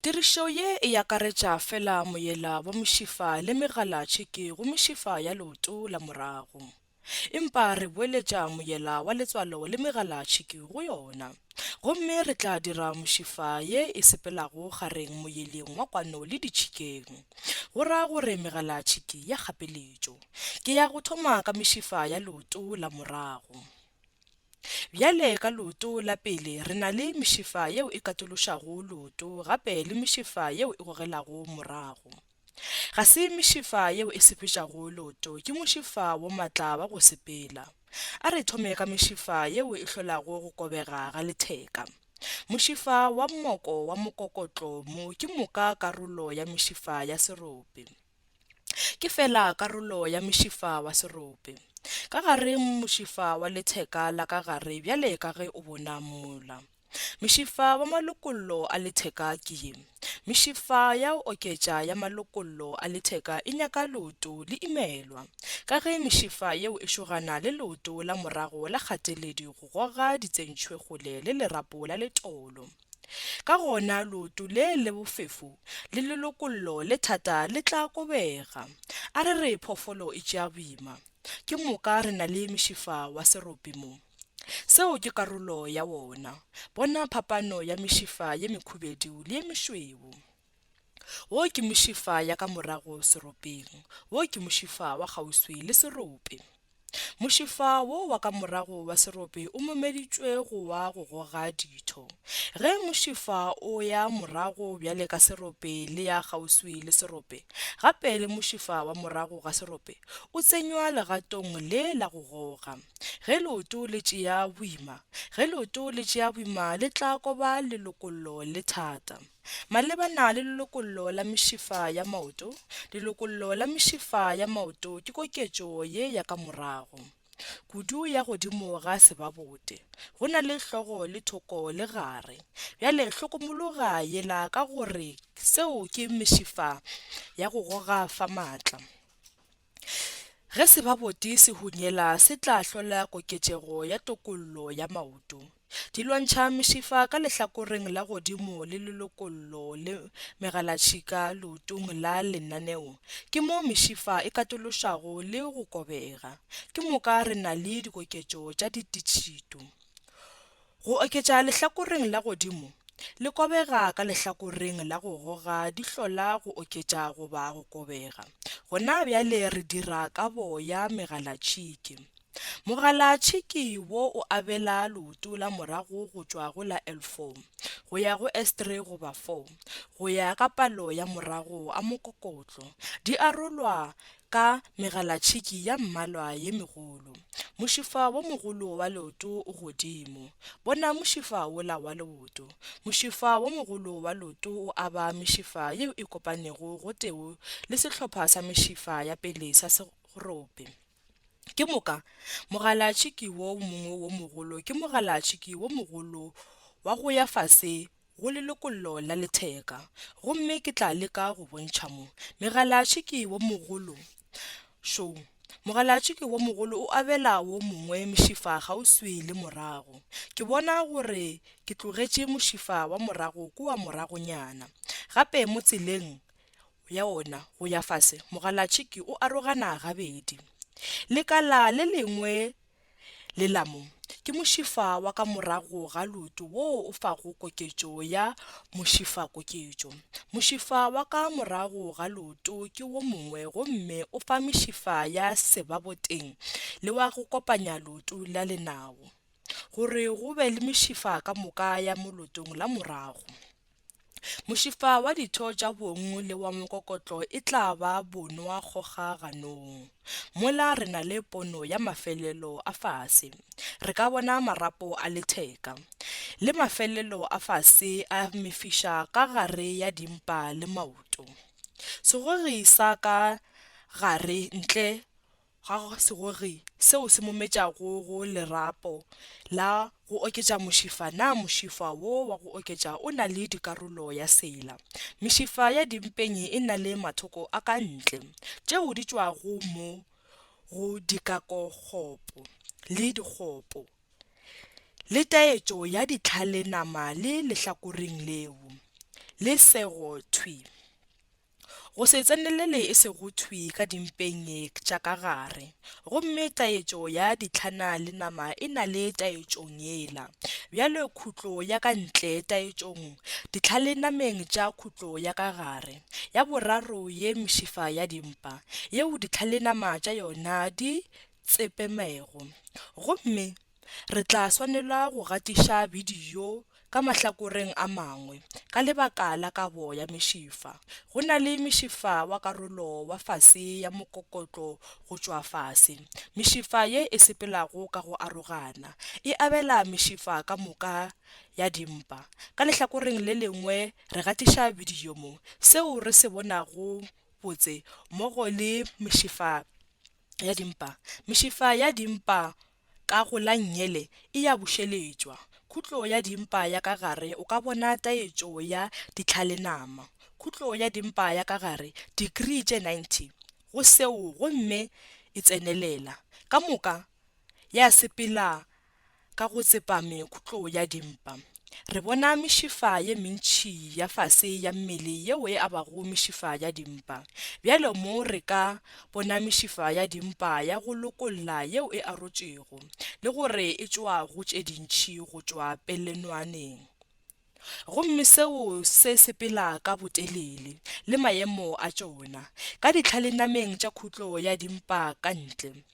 Tirišo ye e akaretša fela moyela wa mošifa le megalatšhiki go mešifa ya leoto la morago. Empa re boeletša moyela wa letswalo le megalatšhiki go yona. Gomme re tla dira mošifa ye e sepelago gareng moyeleng wa kwano le ditšhikeng, go ra gore megalatšhiki ya kgapeletšo. Ke ya go thoma ka mešifa ya leoto la morago. Bjale ka leoto la pele re na le mešifa yeo e katološago leoto gape le mešifa yeo e gogelago morago. Ga se mešifa yeo e sepetšago leoto, ke mošifa wo matla wa go sepela. A re thome ka mešifa yeo e hlolago go kobega ga letheka. Mošifa wa mmoko wa mokokotlo mo ke moka karolo ya mešifa ya serope. Ke feela karolo ya mošifa wa serope. Ka gare mošifa wa letheka la ka gare bjale ka ge o bona mola. Mošifa wa malokollo a letheka ke ye. Mešifa ya go oketša ya malokollo a letheka e nyaka leoto le imelwa. Ka ge mešifa yeo e šogana le leoto la morago la kgateledi go goga ditsentšhwe kgole le lerapo la letolo. Ka gona leoto le le bofefo le lelokollo le thata le tla kobega. A re re phoofolo e tšea boima, ke moka re na le mešifa wa serope mo. Seo ke karolo ya wona. Bona phapano ya mešifa ye mekhubedu le ye mešweu. Wo ke mošifa ya ka morago seropeng, wo ke mošifa wa kgauswi le serope. Mošifa wo wa ka morago wa serope o momeditšwe go wa go goga ditho. Ge mošifa o ya morago bjale ka serope le ya kgauswi le serope, gape le mošifa wa morago ga serope o tsenywa legatong le la go goga. Ge leoto le tšea boima, ge leoto le tšea boima le tla koba lelokollo le thata. Malebana le lelokollo la mešifa ya maoto, lelokollo la mešifa ya maoto ke koketšo ye ya ka morago kudu ya godimo ga sebabote, go na le hlogo le thoko le gare. Bjale hlokomologa yela ka gore seo ke mešifa ya go goga fa maatla. Ge sebaboti se hunyela se tla hlola koketšego ya tokollo ya maoto. Di lwantšha mešifa ka lehlakoreng la godimo le lelokollo le megalatšhika leotong la lenaneo. Ke mo mešifa e katološago le go kobega. Ke moka re na le dikoketšo tša ditšhito. Go oketša lehlakoreng la godimo, le kobega ka lehlakoreng la go goga di hlola go oketša goba go kobega. Gona bjale re dira ka boya megalatšhiki. Mogalatšhiki wo o abela leoto la morago go tšwa go la L4 go ya go S3 goba 4 go ya ka palo ya morago a mokokotlo. Di arolwa ka megalatšhiki ya mmalwa ye megolo. Mošifa wo mogolo wa leoto o godimo. Bona mošifa wola wa leoto. Mošifa wo mogolo wa leoto o aba mešifa yeo e kopanego gotee le sehlopha sa mešifa ya pele sa serope. Ke moka, mogalatšhiki wo mongwe wo mogolo ke mogalatšhiki wo mogolo wa go ya fase go lelokollo la letheka, gomme ke tla leka go bontšha mo. Megalatšhiki wo mogolo, šo, mogalatšhiki wo mogolo o abela wo mongwe mošifa kgauswi le morago. Ke bona gore ke tlogetše mošifa wa morago kua moragonyana. Gape mo tseleng ya wona go ya fase, mogalatšhiki o arogana gabedi. Lekala le lengwe Lelamo ke mošifa wa ka morago ga leoto woo o fago koketšo ya mošifakoketšo. Mošifa wa ka morago ga leoto ke wo mongwe gomme o fa mešifa ya sebaboteng le wa go kopanya leoto la lenao gore go be le mešifa ka moka ya mo leotong la morago. Mošifa wa ditho tša bong le wa mokokotlo e tla ba bonwa kgoga ganong. Mola re na le pono ya mafelelo a fase. Re ka bona marapo a letheka, le mafelelo a fase a mefiša ka gare ya dimpa le maoto. Segogi sa ka gare ntle ga go segogi seo se mo metšago go lerapo la go oketša mošifa na mošifa wo wa go oketša o na le dikarolo ya sela mešifa ya dimpeng e na le mathoko a ka ntle tšeo di tšwago mo go dikakokgopo le dikgopo le taetšo ya ditlhale nama le lehlakoreng leo le sego thwi. Go se tsenelele e sego thwi ka dimpeng tša ka gare. Gomme taetšo ya ditlhana le nama e na le taetšong yela. Bjale khutlo ya ka ntle taetšong, ditlha le nameng tša khutlo ya ka gare. Ya boraro ye mšifa ya dimpa, yeo ditlha le nama tša yona di tsepemego. Gomme. Re tla swanela go gatiša bidio ka mahlakoreng a mangwe ka lebaka la kabo ya mešifa. Go na le mešifa wa karolo wa fase ya mokokotlo go tšwa fase. Mešifa ye e sepelago ka go arogana e abela mešifa ka moka ya dimpa. Ka lehlakoreng le lengwe re gatiša bidio mo seo re se bonago botse mmogo le mešifa ya dimpa. Mešifa ya dimpa Kago la nnyele e ya bušeletšwa. Khutlo ya dimpa ya ka gare o ka bona taetšo ya ditlhalenama. Khutlo ya dimpa ya ka gare, dikrii tše 90 go seo gomme e tsenelela. Ka moka ya sepela ka go tsepame khutlo ya dimpa. Re bona mešifa ye mentši ya fase ya mmele yeo e abago mešifa ya dimpa. Bjalo mo re ka bona mešifa ya dimpa ya go lokolla yeo e arotšwego, le gore e tšwa go tše dintši go tšwa pelenoaneng. Gomme seo se sepela ka botelele, le maemo a tšona, ka ditlhalenameng tša khutlo ya dimpa ka ntle.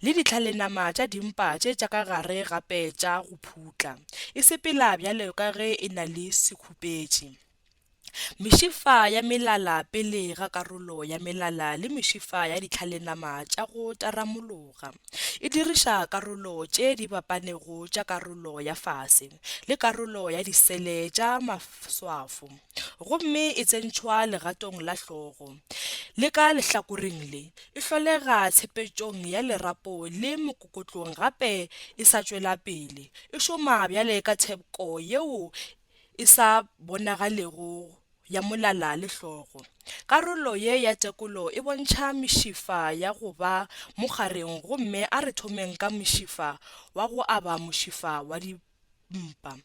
Le ditlhalenama tša dimpa tše tša ka gare gape tša go phutla, e sepela bjalo ka ge e na le sekhupetše. Mešifa ya melala pele ga karolo ya melala le mešifa ya ditlhalenama tša go taramologa, e diriša karolo tše di bapanego tša karolo ya fase le karolo ya disele tša maswafo. gomme e tsentšhwa legatong la hlogo le ka lehlakoreng le, e hlolega tshepetšong ya lerapo le mokokotlong gape e sa tšwela pele, e šoma bjale ka thepko yeo e sa bonagalego ya molala le hlogo. Karolo ye ya tekolo e bontšha mešifa ya go ba mo gareng gomme a re thomeng ka mošifa wa go aba mošifa wa dipolao. mpa.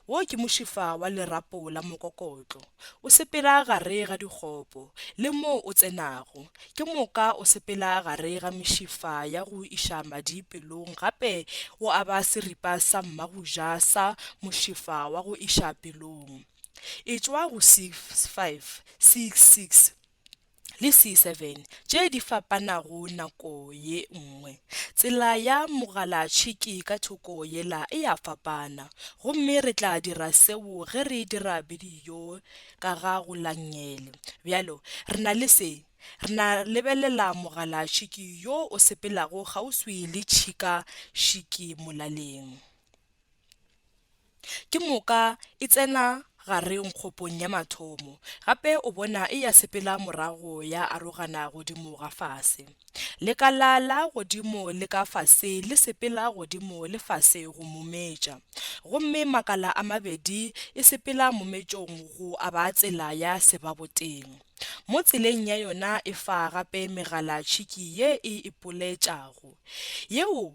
Wo ke mošifa wa lerapo la mokokotlo. O sepela gare ga dikgopo, le moo o tsenago, ke moka o sepela gare ga mešifa ya go iša madi pelong gape o aba seripa sa mmagoja sa mošifa wa go iša pelong. Etšwa go 5, 6, 6. le C7 tše di fapanago nako ye nngwe. Tsela ya mogalatšhiki ka thoko yela e a fapana, gomme re tla dira seo ge re dira bidio ka ga go langele. Bjalo, re na le se. Re na lebelela mogalatšhiki yo o sepelago kgauswi le tšhika-šiki molaleng. Ke moka e tsena gareng kgopong ya mathomo, gape o bona e ya sepela morago ya arogana godimo ga fase. Lekala la godimo le ka fase le sepela godimo le fase go mometša, gomme makala a mabedi e sepela mometšong go aba tsela ya sebaboteng. Mo tseleng ya yona e fa gape megala tšhiki ye e ipoletšago. Yeo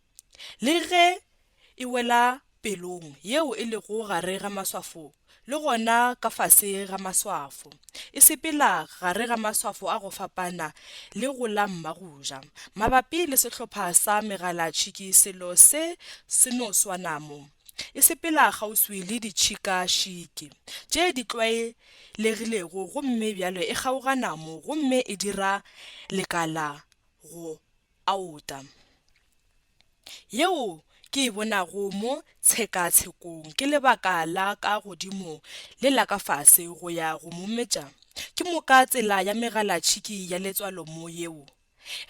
Le ge e wela pelong yeo e lego gare ga maswafo le gona ka fase ga maswafo, e sepela gare ga maswafo a go fapana le go la Mmagoja. Mabapi le sehlopha sa megalatšhiki selo se se no swana mo. E sepela kgauswi le ditšhikašhiki tše di tlwaelegilego gomme bjale e kgaogana mo gomme e dira lekala go a ota. Yeo ke e bonago mo tshekatshekong ke lebaka la ka godimo le la ka fase go ya go mometša ke moka tsela ya megalatšhiki ya letswalo mo yeo.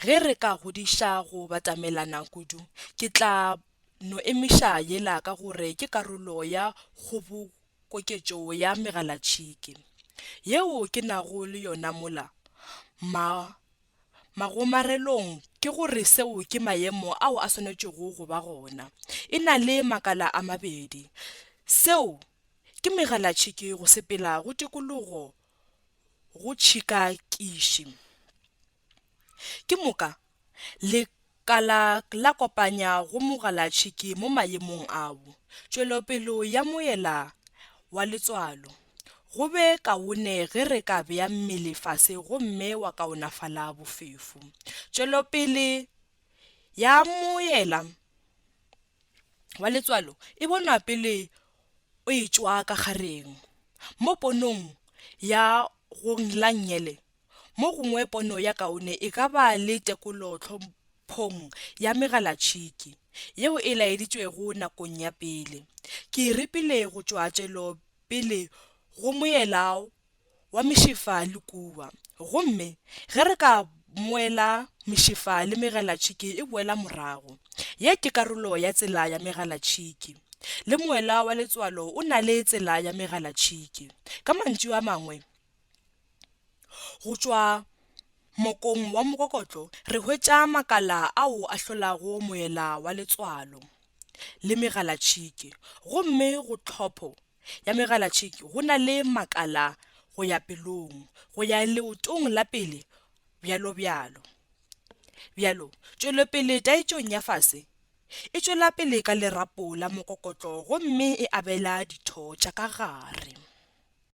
Ge re ka godiša go batamelana kudu, ke tla no emiša yela ka gore ke karolo ya kgobokoketšo ya megalatšhiki yeo ke nago le yona mola. Mma. Magomarelong ke go re seo ke maemo ao a swanetšego go ba gona. E na le makala a mabedi. Seo ke megalatšhiki go sepela go tikologo go tšhikakiši. Ke moka le. Ka la la kopanya go mogalatšhiki mo mayemong ao, tšwelopelo ya moela wa letswalo. Go be kaone ge re ka bea mmele fase gomme wa kaonafala bofefo. Tšwelopele ya moela wa letswalo e bonwa pele o e tšwa ka gareng. Mo ponong ya Gong la Nyele, Mo gongwe pono ya kaone e ka ba le tekolo tlhomphong ya megalatšhiki yeo e laeditšwego nakong ya pele. Ke e repile go tšwa tšwelopele go moela wa mešefa le kuwa, gomme ge re ka moela mešefa le megalatšhiki e boela morago. Ye ke karolo ya tsela ya megalatšhiki. Le moela wa letswalo o na le tsela ya megalatšhiki. Ka mantšu a mangwe, Go tšwa mokong wa mokokotlo re hwetša makala ao a hlolago moela wa letswalo le megalatšhiki gomme go tlhopho ya megalatšhiki go na le makala go ya pelong go ya leotong la pele bjalobjalo. Bjalo, tšwelopele taetšong ya fase e tšwela pele ka lerapo la mokokotlo gomme e abela ditho tša ka gare.